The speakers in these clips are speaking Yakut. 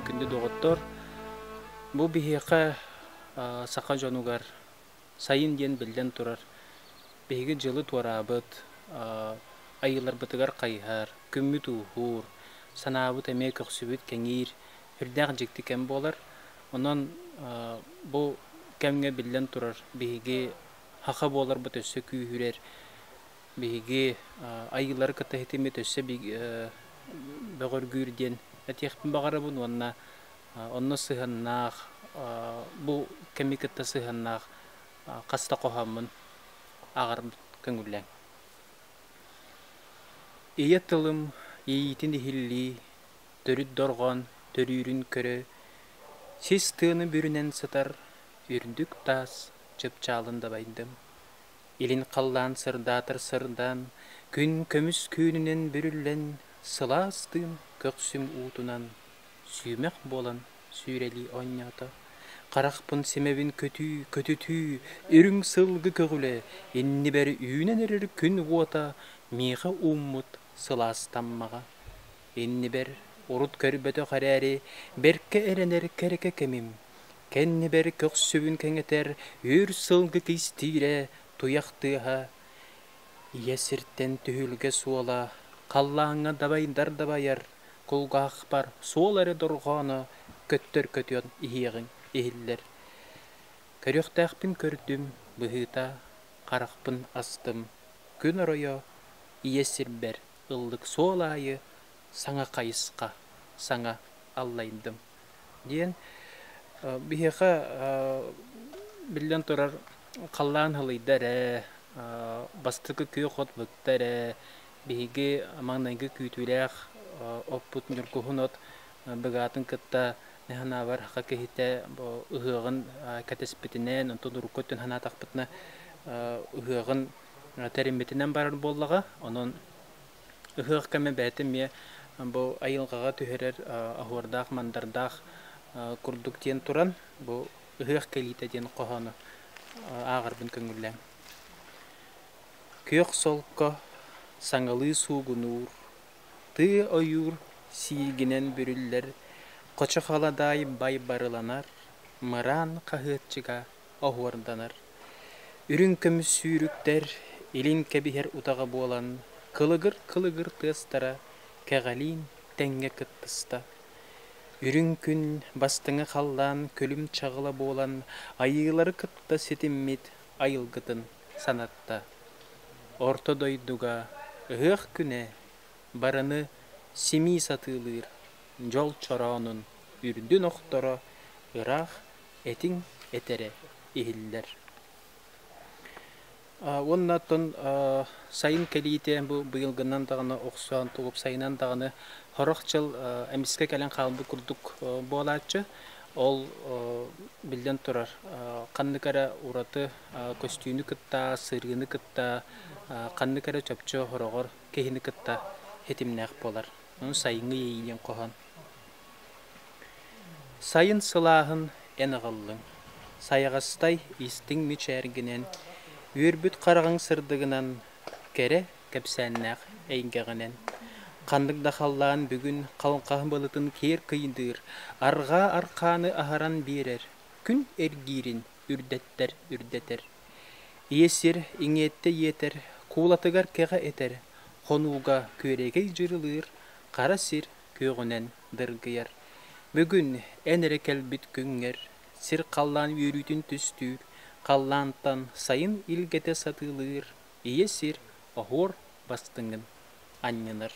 Күндү доҕоттор, бу биһиэхэ саха дьонугар сайын диэн биллэн турар биһиги дьылы туораабыт, айыыларбытыгар хайыһар, күммүт ууһуур, санаабыт эмиэ көхсүбүт кэҥиир үрдээх дьикти кэм буолар. Онон бу кэмҥэ биллэн турар, биһиги саха буоларбыт өссө күүһүрэр. Биһиги айыылары кытта ситиммит өссө бөҕөргүүр диэн этиэхпин баҕарабын уонна онно сыһыаннаах, бу кэми кытта сыһыаннаах хас да хоһооммун ааҕарбыт көҥүллэҥ. Ийэ тылым иэйиитин иһиллии төрүт дорҕоон төрүүрүн көрө, сис тыаны бүрүнэн сытар үрдүк таас чыпчаалын дабайдым. Илин халлаан сырдаатар сырдаан, күн көмүс күүнүнэн бүрүллэн, сылаас тыын көхсүм уутунан сүүмэх буолан сүүрэлии оонньоото. Харахпын симэбин көтүү, көтүтүү, үрүҥ сылгы көҕүлэ, иннибэр үүнэн эрэр күн уота миэхэ ууммут сылаас таммаҕа. Иннибэр урут көрбөтөх эрээри, бэркэ эрэнэр кэрэкэ кэмим. Кэннибэр көхсүбүн кэҥэтэр үр сылгы кистиирэ, туйах тыаһа. Ийэ сиртэн түһүлгэ суола, халлааҥҥа дабайдар дабайар, кулгаахпар суол эрэ дорҕооно көттөр-көтүөн иһиэҕиҥ иһиллэр. Көрүөхтээхпин көрдүм, быһыыта, харахпын астым. Күн оройо ийэ сирбэр Ыллык суол аайы саҥа хайысха, саҥа аллайдым, диэн биһиэхэ, биллэн турар, халлаан һылыйда эрэ, бастакы күөх от быкта эрэ, биһиги маҥнайгы күүтүүлээх оппут ньургуһун от быгаатын кытта не санаабар һаха киһитэ бу ыһыаҕын кэтэспитинээн, онтон урукку өттүн санаатахпытына ыһыаҕын тэриммитинэн барар буоллаҕа онон ыһыах кэмэ бэйэтэ эмиэ бу айылҕаҕа түһэрэр оһуордаах мандардаах курдук диэн туран бу ыһыах кэлиитэ диэн хоһоону ааҕарбын көҥүллээм күөх солко саҥалыы суугунуур тыы ойуур сиигинэн бүрүллэр хочо халадаай бай барыланар мыраан хаһыатчыга оһуорданар. Үрүҥ көмүс сүүрүктэр илин кэбиһэр утаҕа буолан, кылыгыр-кылыгыр тыастара кэҕэлиин тэҥҥэ кыттыста. Үрүҥ күн бастыҥы халлаан күлүм чаҕыла буолан, айыылары кытта ситиммит айылгытын санатта. Орто дойдуга ыһыах күнэ барыны симии сатыылыыр, дьол чороонун үрдүн охторо ыраах этиҥ этэрэ иһиллэр. Уонна оттон сайын кэлиите бу быйылгынан даҕаны охсоон тугуп сайынан даҕаны хорох дьыл эмискэ кэлэн хаалбыт курдук буолааччы. Ол биллэн турар ханнык эрэ ураты көстүүнү кытта, сырыыны кытта, ханнык эрэ чопчу хороҕор киһини кытта ситимнээх буолар. Сайыҥҥы иэйиилиэн хоһоон. Сайын сылааһын эн аҕаллыҥ, сайаҕастай истиҥ мичээргинэн, үөрбүт хараҕыҥ сырдыгынан, кэрэ кэпсээннээх эйгэҕинэн, ханнык да халлаан бүгүн халҕаһ былытын киэр кыйдыыр, арҕаа архааны аһаран биэрэр, күн эргиирин үрдэттэр үрдэтэр. Ийэ сир иҥиэттэ иэтэр, куулатыгар кэҕэ этэр, хонууга күөрэгэй дьырылыыр, хара сир күөҕүнэн дыргыйар. Бүгүн эн эрэ кэлбит күҥҥэр сир халлаан үөрүүтүн түстүүр, халлаантан сайын илгэтэ сатыылыыр ийэ сир оһуор бастыҥын анньынар.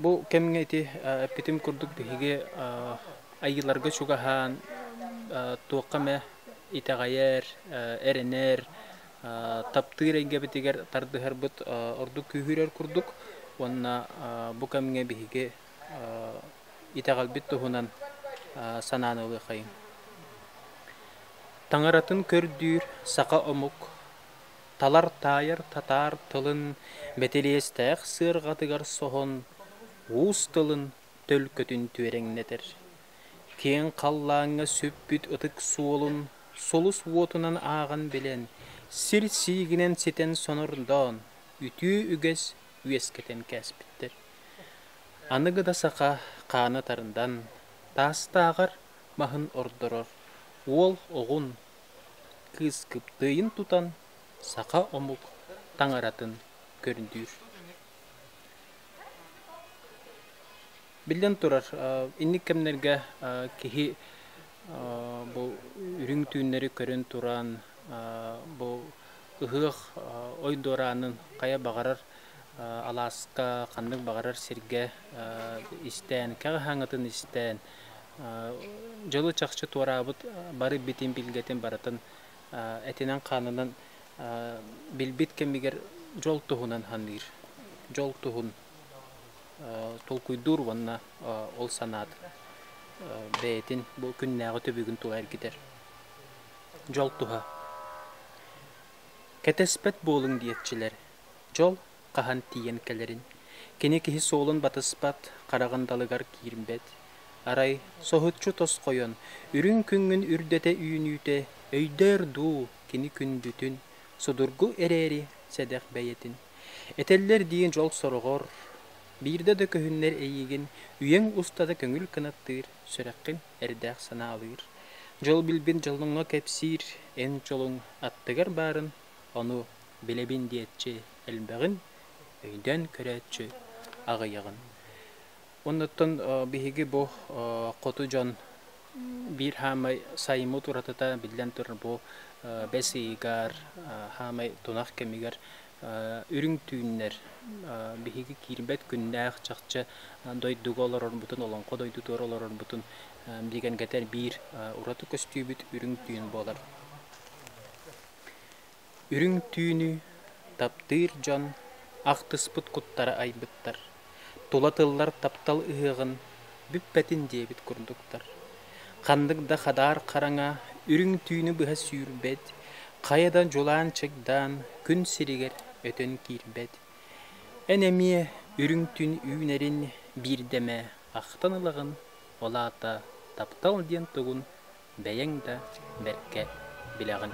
Бу кэмҥэ ити эппитим курдук биһиги айыыларга чугаһаан туохха эмэ итэҕэйэр, эрэнэр, таптыыр эйгэбитигэр тардыһарбыт ордук күүһүрэр курдук уонна бу кэмҥэ биһиги итэҕэлбит туһунан санааны ылыаххайыҥ таҥаратын көрдүүр саха омук талар таайар татаар тылын бэтилиэстээх сыарҕатыгар соһон уус тылын төлкөтүн түөрэҥнэтэр, киэҥ халлааҥҥа сүппүт ытык суолун сулус уотунан ааҕан билэн, сир сиигинэн ситэн сонордоон, үтүө үгэс үөскэтэн кээспиттэр. Аныгы да саха хаана тардан, таастааҕар маһын ордорор уол оҕун, кыыс кыптыайын тутан, саха омук таҥаратын көрдүүр. Биллэн турар, инник кэмнэргэ киһи бу үрүҥ түүннэри көрөн туран бу ыһыах ой-дуор аанын хайа баҕарар алааска, ханнык баҕарар сиргэ истээн, кэҕиһээҥҥытын истээн, дьылы-чахчы туораабыт бары битин билгэтин барытын этинэн-хаанынан билбит кэмигэр дьол туһунан саныыр, дьол туһун толкуйдуур уонна ол санаат бэйэтин бу күннээҕи түбүгүн тула эргитэр. Дьол туһа. Кэтэспэт буолуҥ диэччилэр. Дьол хаһан тиийэн кэлэрин, кини киһи суолун батыспат, хараҕын далыгар киирбэт. Арай, соһуччу тосхойон, үрүҥ күҥҥүн үрдэтэ үүнүүтэ өйдөөр дуу кини күндүтүн, судургу эрээри сэдэх бэйэтин. Этэллэр дии дьол сороҕор, биирдэ да көһүннэр эйиигин үйэҥ устата көҥүл кынаттыыр, сүрэххин эрдээх санаалыыр. Дьол билбин дьолуҥҥа кэпсиир, эн дьолуҥ аттыгар баарын ону билэбин диэччи элбэҕин өйдөөн көрөөччү аҕыйаҕын. Оннуттан биһиги бу хоту дьон биир хаамай саймы туратыта биллэн турар бу бэс ыйыгар, хаамай тунах кэмигэр үрүҥ түүннэр биһиги киирбэт күннээх чахчы дойдуга олорорбутун, олоҥхо дойдутугар олорорбутун билигин кэтэр биир ураты көстүүбүт үрүҥ түүн буолар. Үрүҥ түүнү таптыыр дьон ахтыспыт куттара айбыттар, тула тыллар таптал ыһыаҕын бүппэтин диэбит курдуктар. Ханнык да хадаар хараҥа үрүҥ түүнү быһа сүүрбэт, хайа да дьулаан-чыгдаан күн сиригэр өтөн киирбэт. Эн эмиэ үрүҥ түн үүнэрин биирдэмэ ахтан ылаҕын, ол аата таптал диэн тугун бэйэҥ да бэркэ билэҕин